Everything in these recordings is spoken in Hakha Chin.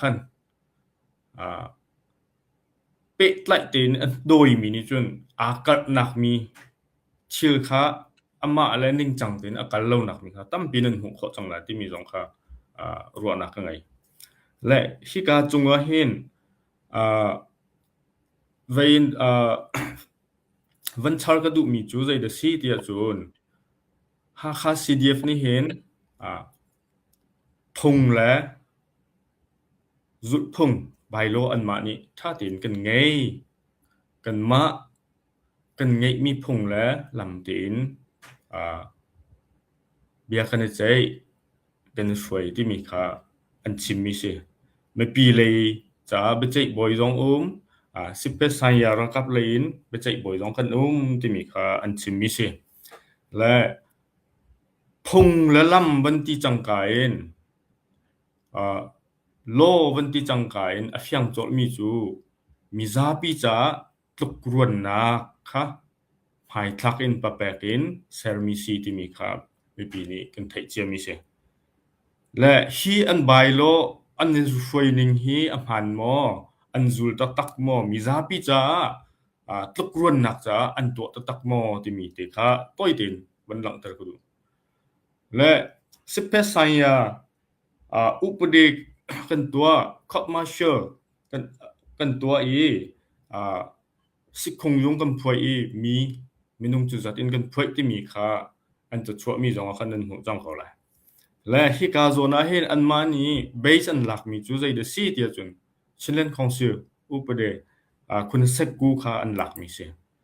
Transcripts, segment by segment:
khan pehtlaih tein an dawimi nih cun aa karhnak mi thil kha amah le ningcang tein a kal lonak mi kha tampi nan hmuh khawh cang lai timi zong kha ruahnak ka ngei. Le hika cungah hin vein van char ka duhmi cu zei da si tiah cun Hakha CDF nih hin Phung le zulhphung bylaw anmah nih ṭha tein kan ngei. Kanmah kan ngeihmi phung le lam tein aa bia kan i ceih, kan i hruai timi kha an chimmi a si. Mipi lei caah biaceih bawi zong um, aa Sipesanya ralkap lei in biaceih bawi zong kan um timi kha an chimmi a si. Le Phung le lam van ti cangka in aa law van ti cangka in a fiang colhmi cu mizapi caah tlukruannak kha hmaithlak in papek in sermi si timi kha mipi nih kan theih ciami a si. Le hi an bai law an in hruai ning hi a hmaan maw? An zul taktak maw? Mizapi caah tlukruannak caah an tuah taktak maw? timi te kha tawite in van langhter ka duh. Le Sipesaya uh, upadik kan tua court-martial kan kan tua i uh, sikhung yung kan phuai i mi minung cu zat in kan phuai timi kha an ca chuah mi zong ah khan an hmuh cang ko lai. Le hi ka zona hin an ma ni base an lak mi cu zei da si tia cun Chinland Council upade uh, khun sekku kha an lak mi si.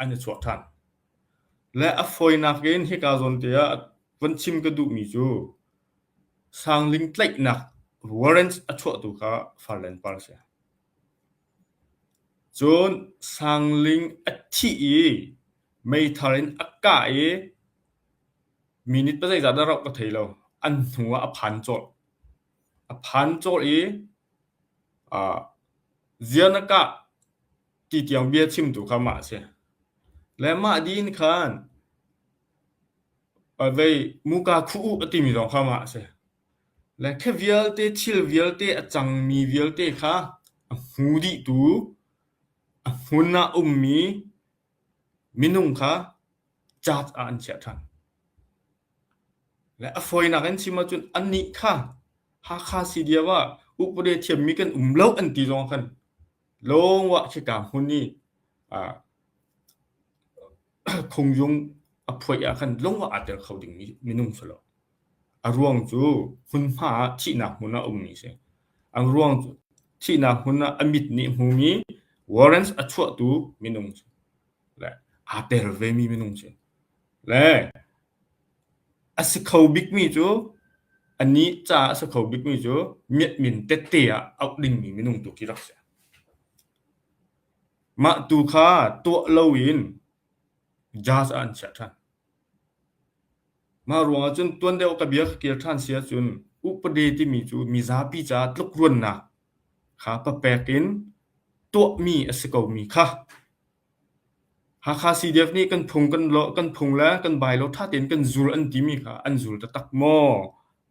an i chuak ṭhan. Le a fawinak in hika zawnte ah van chim ka duhmi cu sangling tlaihnak warrants a chuahtu kha farlen par a si. Cun sangling a thih i meithar in a kah i minute pasai zat na rauh ka thei lo. An hnu ah a phan cawlh. A phan cawlh i uh, zia na kah Titiang bia chimtu kha mah a si. Le mah dih in khan a vei muka khuh u a timi zong kha mah a si. Le khe vialte, thil vialte, a cangmi vialte kha a hmu dihtu, a hmun ah ummi minung kha judge ah an chiah ṭhan. Le a fawinak in chim ahcun annih kha Hakha City ah upade thiammi kan um lo an ti zong khan Lawngwah khika hmun i ah thungyung a phuai ahkhan lawngwah ah tel kho dingmi minung si lo. A ruang cu hmunhma ah thihnak hmun ah a ummi a si. An ruang cu thihnak hmun ah a mit nih hmumi warrants a chuahtu minung si. Le aa tel vemi minung si. Le A si kho bikmi cu, a nih ca a si kho bikmi cu miatmin tette ah auh dingmi minung tu khi rak si. Mah tu kha tuah loin judge ah an chiah ṭhan. Mah ruangah cun tuan deuh ka bia kha kir ṭhan si ahcun upade timi cu mizapi caah tlukruannak kha papek in tuahmi a si komi kha Hakha CDF nih kan phung le kan bylaw ṭha tein kan zul an timi kha an zul taktak maw?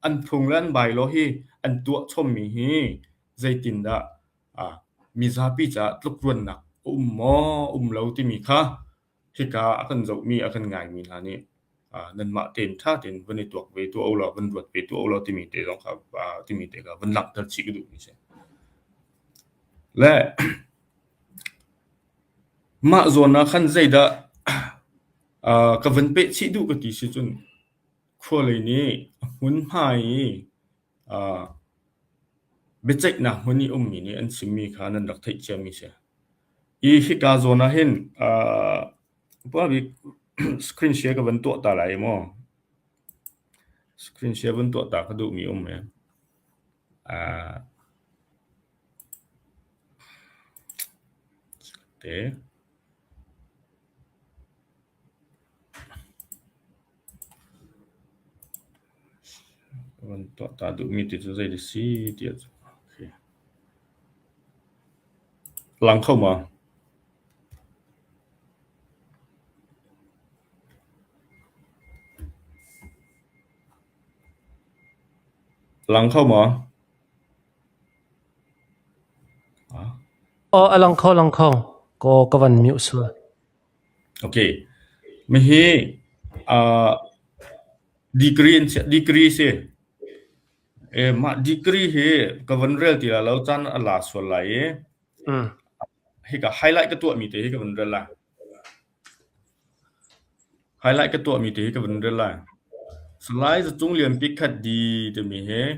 An phung le an bylaw hi an tuah chawmmi hi zeitindah mizapi caah tlukruannak a um maw, a um lo timi kha hika a kan zohmi, a kan ngaimi hna nih nanmah tein ṭha tein van i tuak ve tuah ulaw, van ruat ve tuah ulaw timi te zong kha timi te kha van langhter chih ka duhmi a si. Le mah zawn ah khan zeidah ka van peh chih duh ka ti si cun khualei nih a hmunhma i biaceihnak hmun i ummi nih an chimmi kha nan rak theih ciami a si. I hika zawn ah hin Upa-bik screen share ka van tuah ta lai maw? Screen share van tuah ta ka duhmi a um ee. Aa, te. Kan tuah duhmi ti cu zei a si ti ah cun a lang kho ma? Lang kho ma? Aw, a lang kho, lang kho. Kaw ka van mih usih. Hihi degree asi. Mah degree hi ka van rel ti lai lo. Caan a la sual lai i hika highlight ka tuahmi te hi ka van rel lai. Highlight ka tuahmi te hi ka van rel lai. Salai Za Cung Lian Pi Khat Di timi hi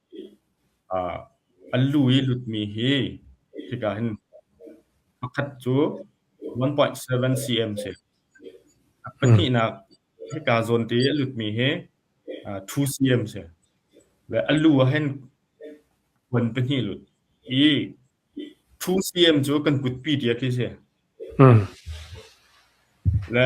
An lu i lutmi hi hika hin pakhat cu 1.7 cm si. A pahnihnak hika zawnte i a lutmi hi 2 cm si. Le a lu ah hin kuan pahnih lut. I 2 cm cu kan kutpi diak hi a si. Le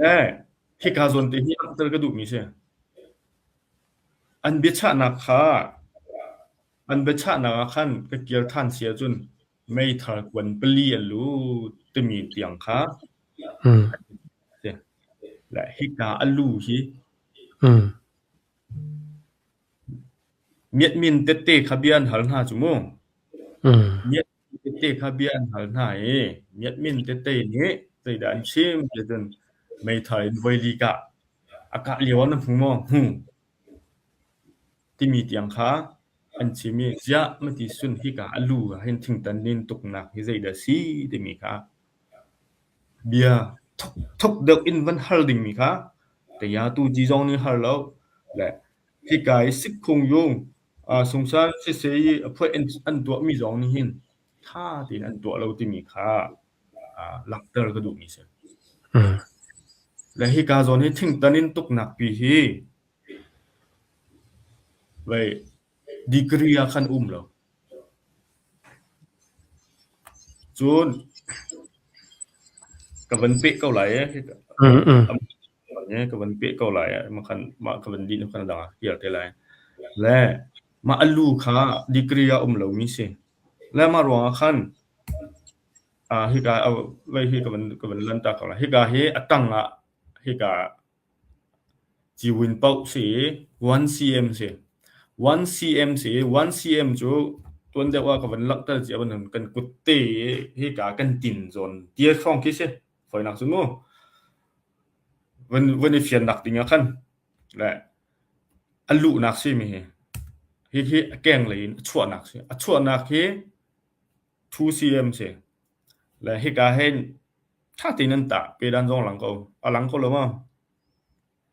Le khika zawn te hi langhter ka duhmi si. An biachahnak kha an biachahnak ah khan ka kir than si ahcun meithal kuan pali a lut timi tiang kha Mm. si. Le hika a lu hi Mm. miat min tette kha bia an hal hna cu mu. Mm. Miat Tete kha bia an hal hna i, Miatmin tete nih zeidah an chim ticun meithal in voi li kah a kah lioah na hmu maw? Hmu, timi tiang kha an chim i, Ziah, mati sun hika a lu ah hin thingtan in tuknak hi zeidah a si? timi kha bia thukthuk deuh in van hal dingmi kha Tayatu Ji zong nih hal lo, le hika i Sikhung Yung Sungsal siseh i a phuah an tuahmi zong nih hin ṭha tein an tuah lo timi kha langhter ka duhmi a si. Le hika zawn hi thingtan in tuknak pi hi degree ah khan a um lo. Cun ka van peh ko lai ee. Ee ka van peh ko lai ah mahkhan mah ka van dih hnu khan a dang ah ka kir te lai. Le mah a lu kha degree ah um lomi si. Le mah ruangah khan aa hika a vai hi ka van ka van lantak ko lai. Hika hi a tang ah hika ciwin poh si i one cm si. One cm si i one cm cu tuan deuh ah ka van langh tal cia bantuk kan kut te i hika kan tin zawn tiat hrawng khi si. Fawinak cu mu van i fian nak ding ah khan le a luhnak simi hi hi hi a keng lei in a chuahnak si a chuahnak hi 2cm si le hika hin ṭha tein an tah pedan zong lang ko a lang ko lo ma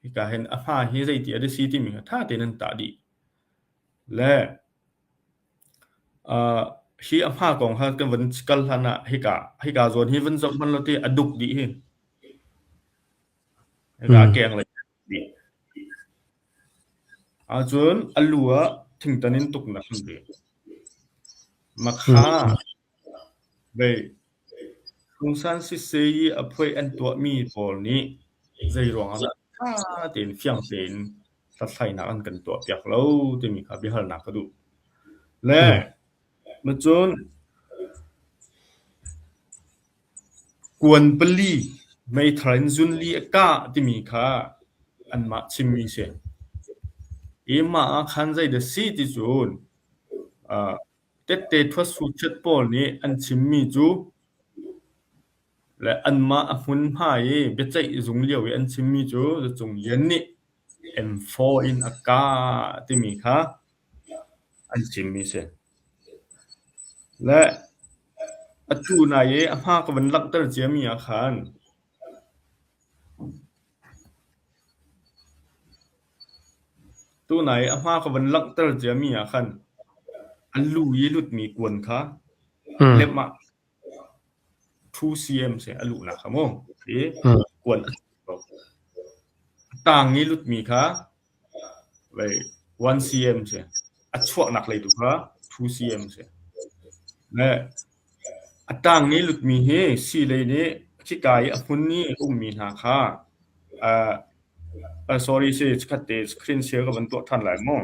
Hika hin a hma hi zeiti a si timi kha ttha tein an tah dih. Le uh, hi a hma kong kha kan van kal hlan ah hika, hika zawn hi van zoh hman law ti a duk dih hi. Hika hmm. keng le dih. Ahcun a lu ah thingtan in tuk nak an dih. Makha, hmm. Phungsan sisei i a phoih an tuahmi pawl nih zeiruangah dah ṭha tein fiang tein hlathlainak an kan tuahpiak lo timi kha biahalnak ka duh. Le macun kuan pali meithal in zunli a kah timi kha anmah chimmi a si. Hi mah ah khan zeidah a si ti cun, Tette thuasuhchiat pawl nih an chimmi cu le anmah a hmunhma i biaceih zung lio i an chimmi cu Zacung Lian nih M4 in a kah timi kha an chimmi a si. Le atu nai i a hma ka van langhter ciami ah khan Tunai a hma ka van langhter ciami ah khan an lu i lutmi kuan kha lemh ah ṭhu cm seh a luhnak kha mu. Ti kuan a si ko. A tang i lutmi kha 1cm si. A chuahnak lei tu kha 2cm si. A ṭangni lutmi hi sii lei nih khika i a hmun i a ummi hna kha sorry si, chikkhat te screen share ka van tuah ṭhan lai maw?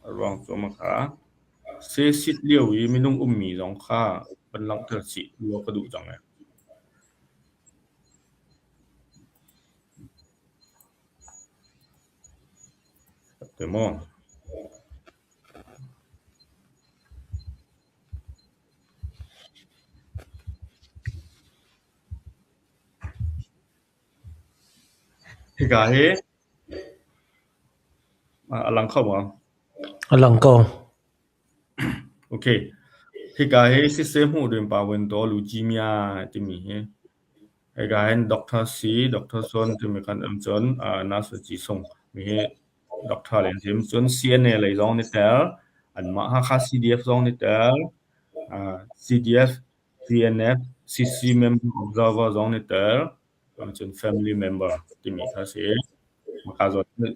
A ruang cu amah kha seesit lio i minung ummi zong kha van langhter sih law ka duh cang ee. Ka ttue maw? Hika hi a lang kho maw? A lang ko. Ok. Hika hi siseh hmuh ding pa vuan tuah leukemia timi hi. Hika hin doctor si, doctor sawn timi kan um cun ah nurse ci sung mi hi doctor le an si. Cun CNA lei zong nih tel, anmah Hakha CDF zong nih tel, ah CDF TNF CC Member Observer zong nih tel cun Family Member timi kha a si.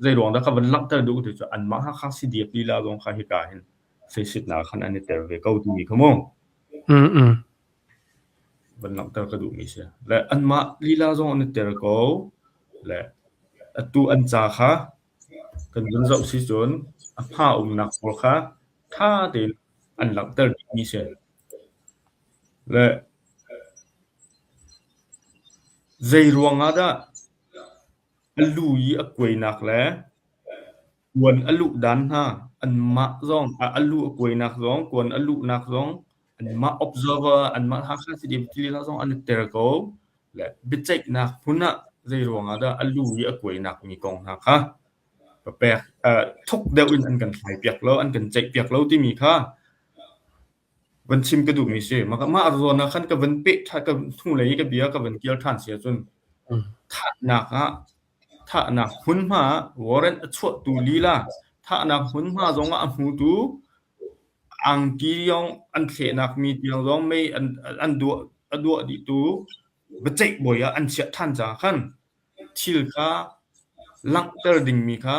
Zeiruang dah ka van langhter duh ti cu anmah Hakha CDF lila zong kha hika hin feisitnak khan an i tel ve ko timi kha mu. Van langhter ka duhmi si. Le anmah lila zong an i tel ko. Le atu an ca kha Kan vun zoh si cun a hma a umnak pawl kha ṭha tein an langhter dihmi si. Le zei ruangah dah a lu i a kuainak le kuan a luh dan hna anmah zong a lu a kuainak zong kuan a luhnak zong anmah observer anmah Hakha Stadium tili hna zong an i tel ko. Biaceihnak hmun ah zeiruangah dah a lu i a kuainak mi kong hna kha papek thuk deuh in an kan thlai piak lo, an kan ceih piak lo timi kha van chim ka duhmi si. Mah zawn ah khan ka van peh ṭhan, ka hnulei i ka bia ka van kial ṭhan si ahcun thahnak ah, thahnak hmunhma ah warrant a chuahtu lila, thahnak hmunhma zong ah a hmutu Angki lawng an thlehnak mi tiang zong mei an duah dihtu biaceih bawi ah an chiah ṭhan caah khan thil kha langhter dingmi kha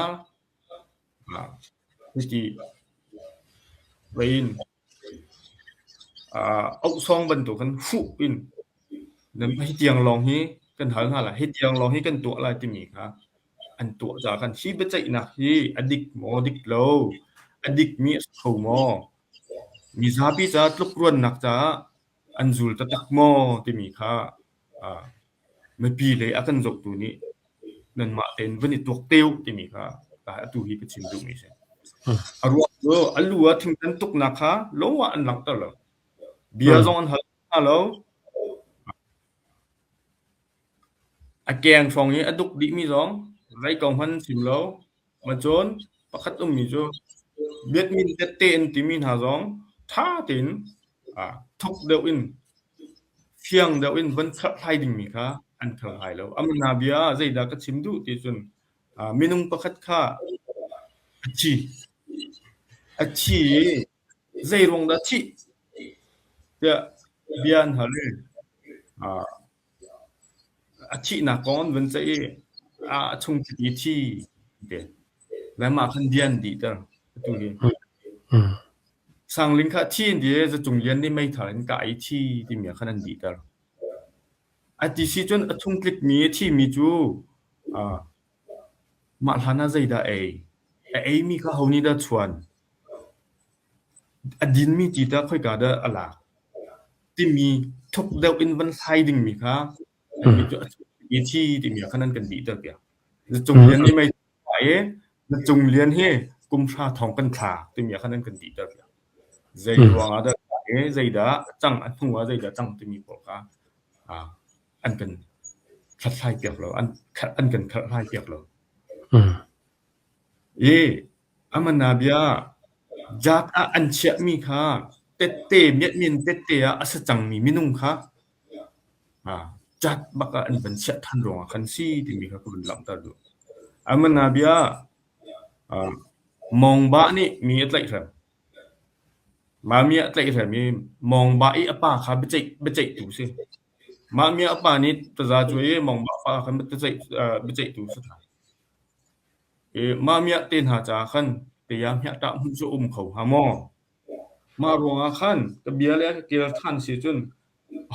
cuti ohsawng bantuk in hruh in hitiang lawng hi kan hal hna lai, hitiang lawng hi kan tuah lai timi kha An tuah caah khan hi biaceihnak hi a dik maw dik lo? A dikmi a si kho maw? Mizapi caah tlukruannak caah an zul taktak maw timi kha ah mipi le a kan zohtu nih nanmah tein van i tuak te u timi kha atu hi ka chim duhmi a si. A ruang cu a lu ah thingtan tuknak kha lawngah an langhter lo. Bia zong an hal hna lo. A keng hrawng i a duk dihmi zong rei ko hmanh chim lo. Macawn pakhat ummi cu biatmin tette an timi hna zong ṭha tein thuk deuh in, fiang deuh in von kherhlai dingmi kha an kherhlai lo. Amahna bia ah zeidah ka chim duh ticun minung pakhat kha a thi. A thi i Zeiruang dah thih? tiah bia an hal i a thihnak kong an vun ceih i a chung chiti thi te le mah khan bia an dihter atu hi. Sang Ling kha a thi an ti i Zacung Lian nih meithal in kah i thi timi ah khan an dihter. A ti si cun a chung tlikmi a thimi cu Mah hlanah zeidah a ei? A eimi kha ho nih dah a chuan? A dinmi ti tah khoika dah a lak? Timi thuk deuh in van thlai dingmi kha a mi cu a chuh i thi timi ah khan an kan dihter piak. Na cung lian hi mei ai i na cung lian hi kumhra thawng kan thla timi ah khan an kan dihter piak. Zeiruangah dah a tla i zeidah a cang, a hnuah zeidah a cang timi pawl kha. an kan hlathlaipiak lo, an kan khalhhlaipiak lo. Ye, aman ah bia, jaat ah an chiahmi kha tette, miatmin tette ah a sa cangmi minung kha jaat bak ah an van chiah than ruangah kan si timi kha ka van langhter duh. Aman ah bia, mongba nih mi a tlaih hrem. Mami a tlaih hrem i mongba i a pa kha biaceih tu si. Mah mi a pa nih taza cuai i mawngmah fa kha biaceihtu a si hna. I mah miah te hna caah khan taya hmiahtah hmuh cu a um kho hnga maw? Mah ruangah khan ka bia le a ka ṭial ṭhan si cun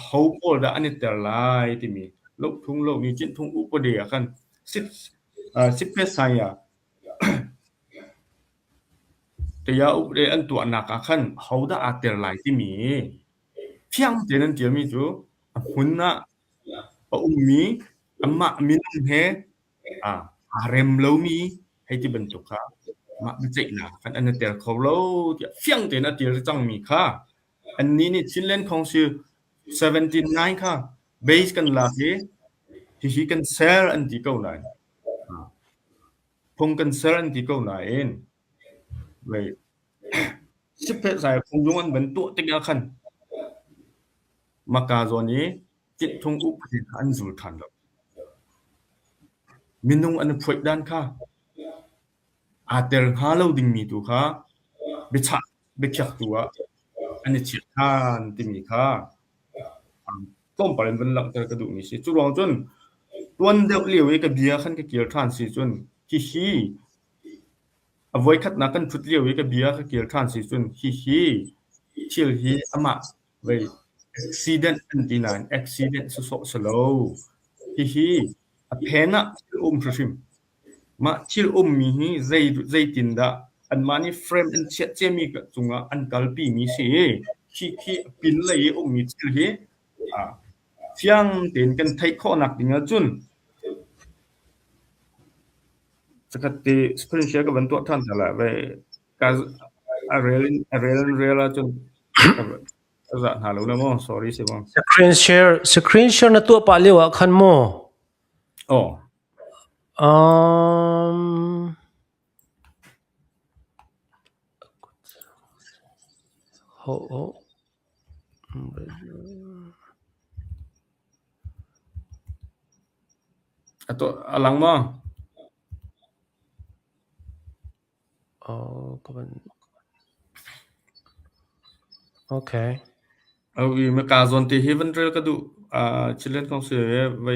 ho pawl dah an i tel lai timi lohphung lomi cinthung upade ah khan sipphetsai ah taya upade an tuahnak ah khan hodah aa tel lai timi Fiang tein an ṭialmi cu a hmun ah a ummi anmah minung he aa rem lomi hei ti bantuk kha mah biaceihnak khan an i tel kho lo tiah fiang tein a ṭial rih cangmi kha annih nih Chinland Council seventy nine kha base kan lak i hihi kan ser an ti ko nain phung kan ser an ti ko nain Siphetzai phungzung an van tuah tikah khan maka zawn i ṭihthung upadi kha an zul ṭhan lo. Minung an i phoih dan kha aa tel hnga lo dingmi tu kha biachah biakhiaktu ah an i chiah ṭhan timi kha tlawmpal in van langhter ka duhmi a si. Cu ruang cun tuan deuh lio i ka bia khan ka kir ṭhan si cun hihi A voikhatnak kan ṭhut lio i ka bia a ka ṭial ṭhan si cun hihi thil hi amah vei accident an ti nain accident si sawh si lo. Hihi a phen ah thil um hrimhrim. Mah thil ummi hi zei zeitindah anmah nih frame an chiah ciami cungah an kalpimi si i khi khi a pinlei i ummi thil hi Fiang tein kan theih khawhnak ding ahcun zakhat ti screenshare ka van tuah ṭhan hna lai ve. Ka a rel in a rel in rel ahcun ka zah hna lo la maw? Sorry si maw? Screenshare screenshare na tuah pah lio ah khan maw? Aw. Um. Hawh awh! A lang maw? Kaa zawn te hi van rel ka duh. Cilen kong si ve.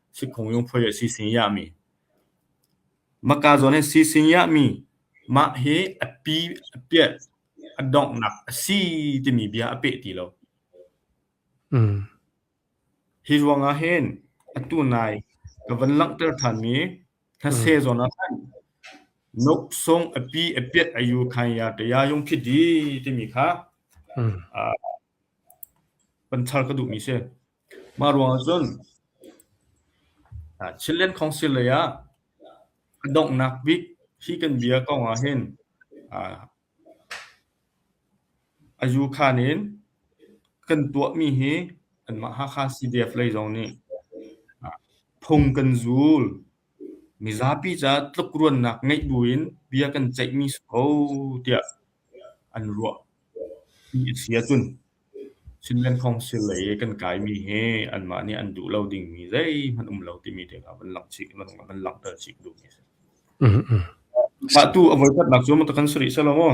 Sikhung lungphuai a si singiahmi. Mahka zawn hi a si singiahmi. Mah hi a pi a piat a donghnak a si timi bia a peh ti lo. Hi ruangah hin atu nai ka van langhter thanmi thase zawn ah khan nok sung a pi a piat a yu khan ya ka ya yung khi di timi kha. Panchar ka duhmi si. Mah ruangah cun Chinland Council lei ah donghnak bik hi kan bia ko ahhin Ayukhan in kan tuahmi hi anmah Hakha CDF lei zong nih phung kan zul. Mizapi caah tlukruannak ngeih buin bia kan ceihmi si ko tiah an ruahmi a si ahcun. Cinman Council lei i kan kaimi hi anmah nih an duh lo dingmi zeihmanh um lo timi te kha van langhter chih duhmi a si. Mah tu a voikhatnak cu maw ta kan si rih seh law maw?